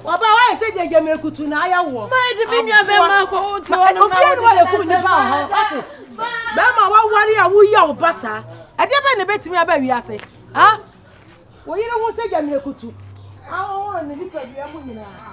Ɔbaa wayɛ sɛ deɛ gyama akutu na ayɛ woɔ. Ma ɛde me nua bɛma akɔ wo toɔ no. Obiara ne wayɛ kum nipa wɔ hɔ. Wate? Bɛma waware a woyɛ wo ba saa. Ɛdeɛ bɛn na ɛbɛtumi aba wiase? Ha? Wo yere ho sɛ gyama akutu. Ahohoro ne nipadua mu nyinaa.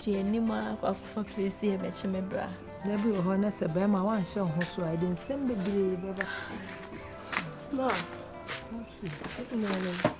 agye anim akɔ akɔfa plesi ɛbɛkye me bra na bi wɔ hɔ na sɛ bɛrima wanhyɛ wo ho so a ɛde nsɛm bebree bɛba ma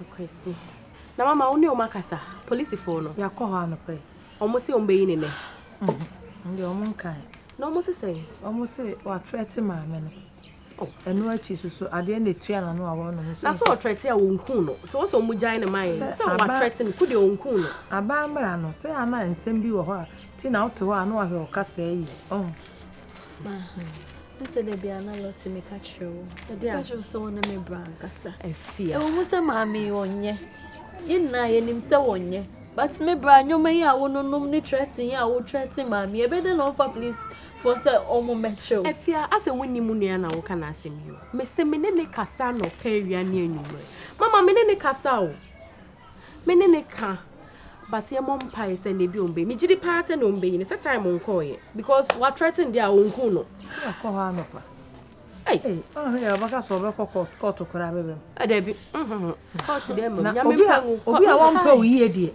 Akwasi, Na mama wo ne wɔn akasa, polisifo no. Yɛakɔ hɔ anɔpɛ. Wɔn se wɔn bɛyi ne nɛ. Ndeɛ wɔn nkae. Na wɔn se sɛn? Wɔn se watrɛte maame no. Oh. Ɛno akyi soso adeɛ na etua n'ano a wɔnom nso. Na sɛ ɔtrɛte a wɔn kun no. Sɛ wɔn sɛ wɔn gyae ne man. Sɛ watrɛte no, ko deɛ wɔn kun no. Aban mmara no, sɛ ana nsɛm bi wɔ hɔ a, ti na wote hɔ a na wahwɛ wo kasaa yie. Ɔho. sɛ da bia na lɔte meka kyerɛ wo meka kyerɛ wo sɛ wo ne me bra ankasa ɛwɔ mu sɛ maame ɔnyɛ yɛ nyinaa yɛnim sɛ wɔnyɛ but me bra nnwoma yi a wononom ne trɛten yi a wotrɛte maame ɛbɛdɛ na ɔmfa police fo sɛ ɔmo mɛkyerɛ wo afia asɛ wonni mu nua na woka no asɛm yi o mese me ne ne kasa na ɔpɛ awia ne anwummerɛ mama me ne ne kasa o Me ne no ka but yɛ mɔ mpae sɛ nea bi ɔmba yi megye di paa sɛ nea ɔmba yi no sɛ time nkɔɔyɛ because wa threaten deɛ a ɔnku no. sɛ yɛkɔ hɔ anɔpa ɔhwɛ yɛ ɔbɛka sɛ ɔbɛkɔ kɔɔto koraa bɛbɛm ɛdɛbi kɔɔto deɛ mmam nyame mpa ngu obi a wɔmpɛ wo yie deɛ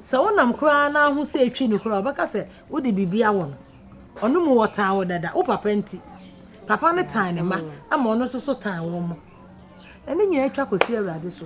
sɛ wonam koraa na aho sɛ ɛtwi no koraa ɔbɛka sɛ wode biribi awɔ no ɔno mu wɔtaa wo dada wo papa nti papa no tan ne ma ama ɔno nso so tan wɔ mo ɛne nyinaa atwa kɔsi awurade so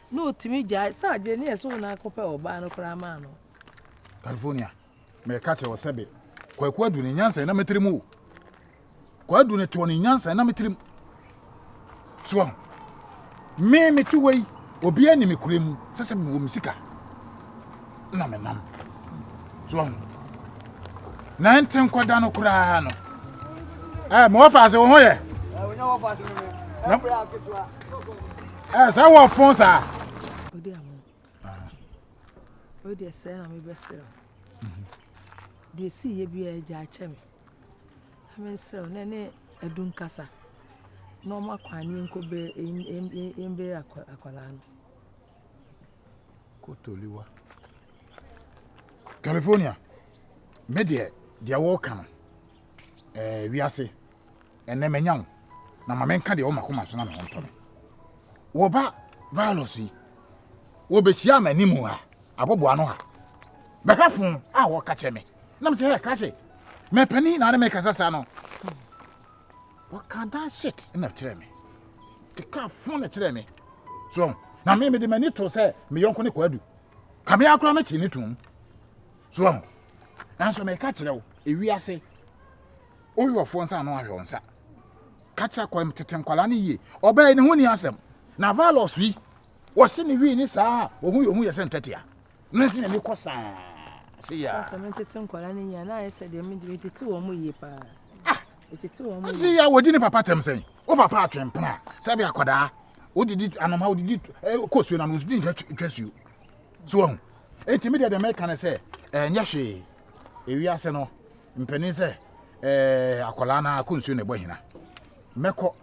na otumi gyae sɛ agye ne ɛso na akɔpɛ ɔbaa no koraa maa no. California, mɛka kyerɛ wɔ sɛbe, kwaku adu ne nyansa na metirim o. Kwadu ne tɔɔ ne nyansa na metirim. Soɔ, me mete wei, obi ani me kure mu, sɛ sɛ mewɔ me sika. na menam so ahu na ɛnte nkɔda no koraa no ɛɛ mewɔ fa ase wo ho yɛ ɛɛ sɛ wɔ fon saa wodeɛ sɛ na mebɛserɛ deɛ siiɛ biaa agya akyɛ me mensrɛ wo na ne adum kasa na ɔma kwane nkɔbɛ ɛmbɛ akwadaa no kotoliwa california me deɛ deɛ wɔka no ɛɛ eh, wiase ɛnɛ mɛnya wo na ma menka deɛ wɔma koma so na me ho ntɔ me wɔba virus yi wɔbɛhyia ama anim ha abɔboa no ha bɛhwɛfo a wɔka kyɛ me nam sɛ hɛ krakye mɛpani na ne mɛkasa saa no Wɔka that shit na kyerɛ me. Keka fo na kyerɛ me. So, na me mede m'ani to sɛ me yɔnko ne kwadu. Kame akora me te ne tum. So, nanso meka kyerɛ wo, ewi ase. Oyi wɔfoɔ nsa ano ahwɛ nsa. Ka kyerɛ kwam tete nkwala ne yie. Ɔbɛɛ ne ho ni asɛm. Na valos yi, wɔse ne wii ne saa, ohu yɛ ohu yɛ sɛ ntɛtea. Nanso na mekɔ saa se yɛ a. Sɛ metete nkwadaa no yie a na ayɛ sɛ deɛ mede metete wɔn mu yie paa. Ah! Metete wɔn mu yie. Nti yɛ a wɔdi ne papa tɛm sɛn? Wo papa atwe mpena sɛ bi akwadaa wodidi anoma wodidi eh, kɔ suo no ano wodidi nka twa suo. So wahu. Enti me deɛ deɛ mɛka ne sɛ ɛnyɛ hwee. Ewiase no mpanin sɛ eh, akwadaa no akɔ nsuo na ɛbɔ hena. Mɛkɔ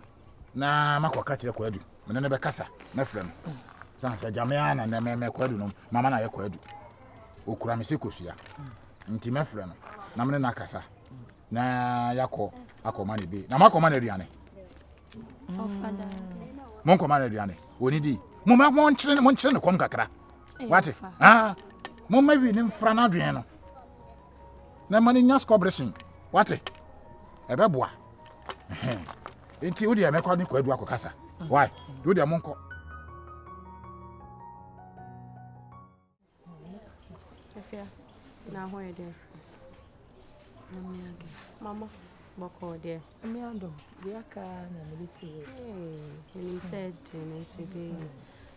na makɔ ka kyerɛ kwadu me ne no bɛkasa mɛfrɛ no sane sɛ gyame a na mɛmɛ kwadu no mama no ayɛ kwadu ɔkura me sɛ kosua nti mɛfrɛ no na mene no akasa na yɛakɔ akɔma no bi na moakɔma no aduane monkɔma no aduane ɔnidi moma monkyere monkyere no kɔm kakra wate ah, moma wi ne mfra no adwene no na ma no nya skɔbresen wate ɛbɛboa nti wo deɛ mɛkɔ ne kwadu akɔ kasa why deɛ wo deɛ mo nkɔ Mama, bɔkɔɔ deɛ. Ɛmi adɔ, bi aka na mi de ti wɔ. Ɛnim sɛ ɛdi ne nso bi.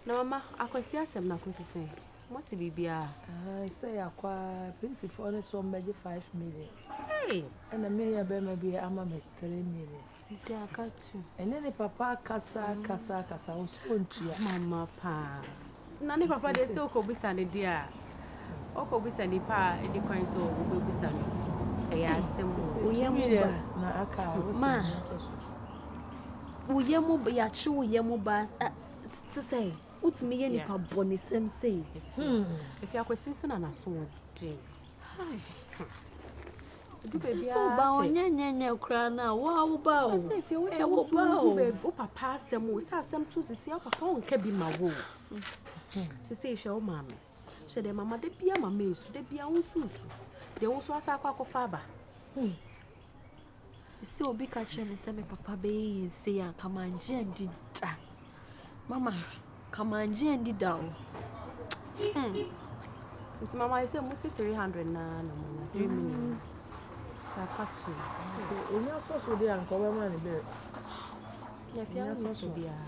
Na mama, akwasi asɛm na akwasi sɛn. Mote biribiaa? Ahaa sɛ yɛakɔ aa polisifoɔ no sɔɔ me bɛgye five million. Hey! Ɛna me nua bɛrima bi ama me three million. Nti aka two. Ɛne ne papa kasa kasa kasa wɔ so ntua. Mama paa. Na ne papa deɛ sɛ wokɔbisa no deɛ a wokɔbisa nipa a ɛni kwan sɛ wobɛbisa no ɛyɛ asɛm o. Woyɛ mu ba. Na aka a wosɛ Ma. Woyɛ mu yɛakye woyɛ mu ba sesɛe. Wotumi yɛ nipa bɔnesɛm sei. Efi akwasi nso na n'aso wɔ den. Edu baabi a sɛ ba ɔnyɛ nyɛ nyɛ koraa na wo a wo ba o. Sɛ efi wo sɛ wo so wo baabi wo papa asɛm o sɛ asɛm to sisi wo papa ɔnka bi ma wo. Sisi ehwɛ wo maame. Hwɛ dɛ mama da bia ma mesu da bia wo so su deɛ wo so asa akɔ akɔfa aba hmm. sɛ obi ka kyerɛ me sɛ me papa bɛyɛ yɛ nse a kamangye andi da mama kamangye andi da o hmm. nti mama yɛ sɛ mo se 300 naa na monya 3 hmm. million nti aka to ɔnya sɔso deɛ anka wobɛma ne bɛɛ yɛfia wo ne sika biara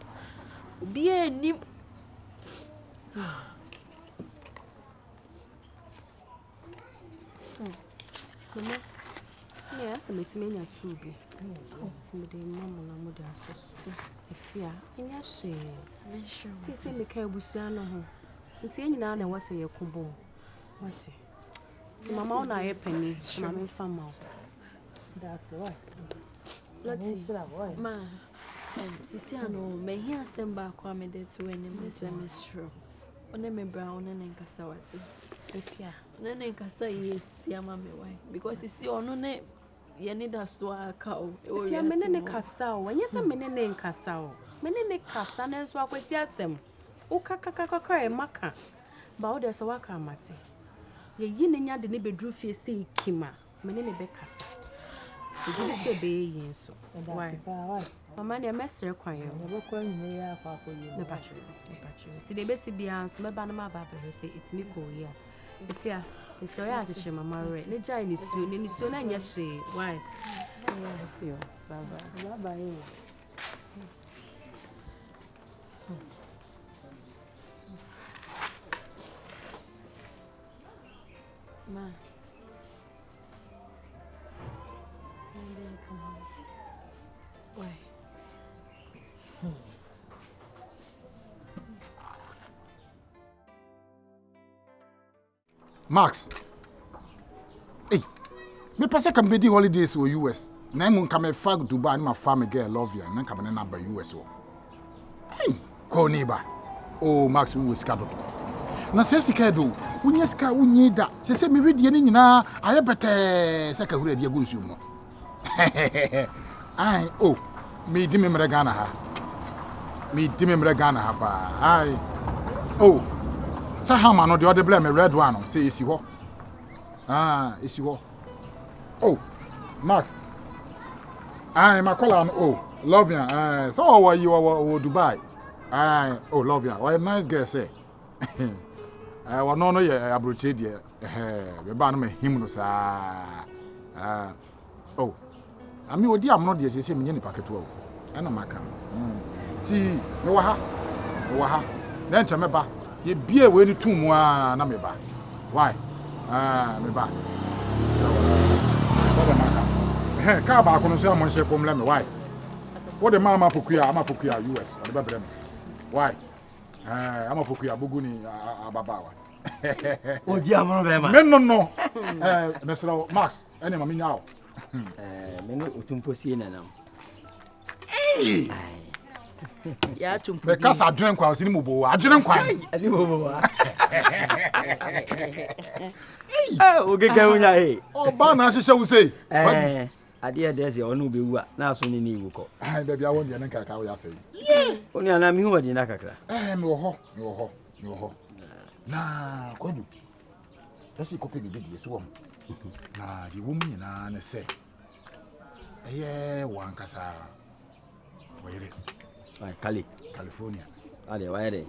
Obiara nnim. Mama, me yɛ asɛ mɛtumi anya tuu bi. Nti mede ma mo na mode asɔ so. Ɛfi a, ɛnyɛ hyee. Sɛ sɛ meka abusua no ho. Nti yɛn nyinaa na ɛwɔ sɛ yɛko bom. Wate? Nti mama wo na ayɛ pani. Mama mfa ma wo. That's right. Lati, ma. Sisi ano o, mahia asɛm baako a mede to w'anim ne sɛ mesrɛ wo, wo ne me bra wo ne ne nkasa wate. Ɛtia. Ne ne nkasa yɛ si ama me wae. Because sisi ɔno ne yɛ ne da so a ka o. Ɛtia me ne ne kasa o, ɛnyɛ sɛ me ne ne nkasa o. Me ne ne kasa na nso akwasi asɛm. Wo kakakakaka yɛ maka. Ba wo deɛ sɛ waka amate. Yɛyi ne nya de ne bɛduru fie sei kima. Me ne no bɛkasa. Megye di sɛ ɔbɛyɛ yie nso. Why? Mama deɛ mɛsrɛ kwan o. Yɛbɛkɔ anwummerɛ yi akɔ akɔyɛ mu. Mepatro, mepatro. Nti deɛ ɛbɛsi biara nso mɛba no maba abɛhwɛ sɛ ɛtumi kɔɔ yie a. Efia, nso ɔyɛ akyekyere mama werɛ. Ne gyae nisuo, ne nisuo no nyɛ hwee. Why? Yo, bye bye. Bye bye o. ma Max, ei, mepɛ sɛ ka mebɛdi holidays wɔ US na mmom ka mefa Dubai ne mafa me girl Lovia na nka me ne no aba US wɔ. Hey, kwaw ne ba. Oh, Max wowɔ sika dodo. Na sɛ sika ɛdɔ o, wonya sika a wonyi da. Sɛ sɛ mehwɛ die no nyinaa ayɛ bɛtɛɛ sɛ kahura adi agu nsuo mu no. Ai, oh, medi me mmerɛ Ghana ha. Medi me mmerɛ Ghana ha paa. Ai, oh, sɛ hama no deɛ ɔde brɛ me red one no, sɛ ɛsi hɔ. Ah, ɛsi hɔ. oh max ayi makɔla no oh love ya ayi sɛ ɔwɔ yi ɔwɔ ɔwɔ dubai ayi oh love ya ɔyɛ nice girl sɛ ɛɛ wɔn no yɛ aburokyire deɛ ɛhɛɛ bɛba no ma him no saa ɛɛ oh. Na me odi amono deɛ seesei menyɛ nipa ketewa o, ɛna maka no nti mewɔ ha, mewɔ ha, na nkyɛ mɛba, yɛbiee wei no too mu aa na meba, wai aa meba, mesrɛ wo aa bɔ deɛ maka no, ɛhɛn kaa baako no nso yɛ a monhyɛ bɔ mmrɛ me, wai wode ma ama pokuya, ama pokuya us ɔde bɛbrɛ me, wai ɛɛ ama pokuya bogu ni ababaawa ɛhɛhɛhɛ, me no no ɛɛ mesrɛ wo Max ɛne ma menya wo. me ne ɔtumpo sie nanam mekasa adwene nkwa ɔsene mu bowa adwene nkwa wogegɛ wonya e ɔba na ahyehyɛ wo sei adeɛ dɛ sɛ ɔne wobɛwu a na aso ne ne wu kɔ baabi awɔ deɛ ne nkraka woyɛ asɛe wo ne anaa mehu ɔde na kakra mewɔ hɔ mewɔ hɔ mewɔ hɔ na kwadu na sɛ yɛkɔpɛ biribi deɛ so wɔ ho na deɛ wɔ mu nyinaa ne sɛ ɛyɛ wɔn ankasa wɔyere kale california adeɛ wayɛ dɛ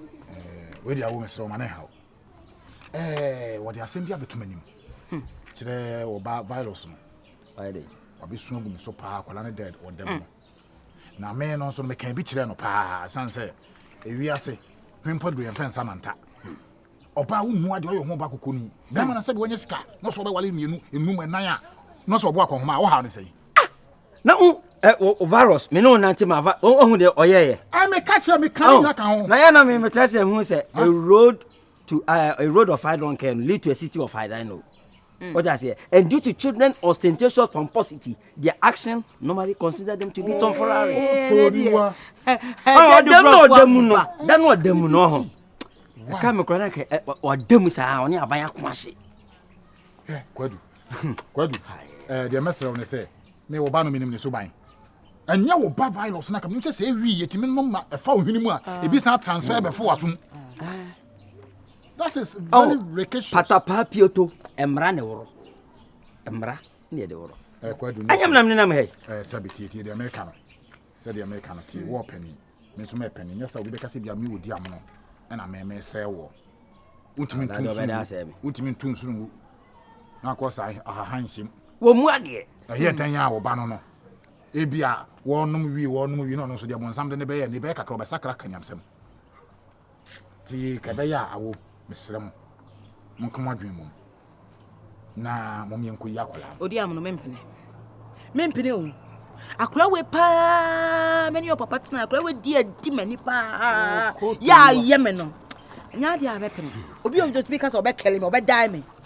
wei deɛ awo mesrɛ ɔma ne haw wɔde asɛm bi abɛtom anim hmm. kyerɛ wɔba virus no wayɛ dɛ wabɛsu agu me so paa akwadaa no dɛ ɔdam no hmm. na me no nso no meka bi kyerɛ no paa ɛsiane sɛ ewiase mempɔ de yɛmfɛ nsa manta ɔbaa wo mua deɛ ɔyɛ ho ɔbaa kokoni bɛrima na sɛdeɛ wanya sika na ɔsɛ ɔbɛwale mmienu enum ɛnan a na ɔsɛ ɔbɔ akɔnhoma a wohaw ne sɛ yi ah! na wo ɛ wo virus me ne wo nante ma va ɔhu deɛ ɔyɛɛyɛ ɛ meka kyerɛ meka ne nyina ka ho na yɛ na me metra sɛ hu sɛ a road to uh, a road of I don't care lead to a city of I don't know Mm. What I say, and due to children ostentatious pomposity, their action normally consider them to be tomfoolery. Oh, oh, them no, them no, them no, them no. I can't make cry like or them is only a buyer quashi. Yeah, Kwadu, Kwadu, eh, the messer on the say, me will ban a minimum so buying. ɛnyɛ wo ba virus na kam sɛ sɛ ɛwi yɛtumi nom ma ɛfa wo hwene mu a ɛbi san transfer bɛfo wasom patapaa pioto mmara ne woro mmara ne yɛde woro anyam nam nenam ha yi sɛ betietie deɛ meka no sɛdeɛ meka no tie wɔɔ pani me nso mɛ pani nyɛ sɛ obi bɛka sɛ bia me wɔdi amono ɛna mɛmɛ sɛ wɔ wontumi ntu nsunu wontumi ntu nsunu ngu na akɔ saa ahahan nhyɛm wɔ mu adeɛ ɛyɛ dan a wɔba no no ebi a wɔnom wie wɔnom wie na ɔno nso deɛ bɔnsam de ne bɛyɛ ne bɛyɛ kakra ɔbɛsakra kanyamsɛm Ntsi dza ɔbɛyɛ a awo, mesrɛ mo, monka mo adwen mbɔ mu, na mom yɛnkoyi akwadaa no. Odiam no, mempene. Mempene o. Akwadaa wei paa, me ne ɔpapa tena, akwadaa wei di adi m'ani paa, yɛ ayɛ me no. Nyɛ adeɛ a bɛpene. Obi a ɔtumi ka sɛ ɔbɛkɛle me, ɔbɛdae me.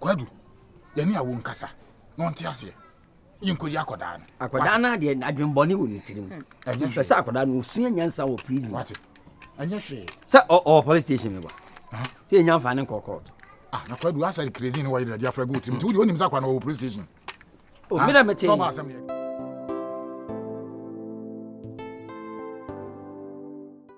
Kwadu, yɛne awo nkasa na ɔnte aseɛ. Yɛnkɔyi akɔdaa no. Akɔdaa no adeɛ adwembɔne wɔ ne tirim. Hwɛ sɛ akɔdaa no ɔsua nyansa wɔ prison. Wate, ɛnyɛ hwee. Sɛ ɔwɔ police station mi bɔ. Sɛ ɛnya mfa ne nkɔ court. Ah, na Kwadu, asɛ prison no wɔyɛ dɛde afra gu tirim. Nti wode wonim sɛ akɔdaa no wɔwɔ police station. O, mena mete. Tɔba asɛm deɛ.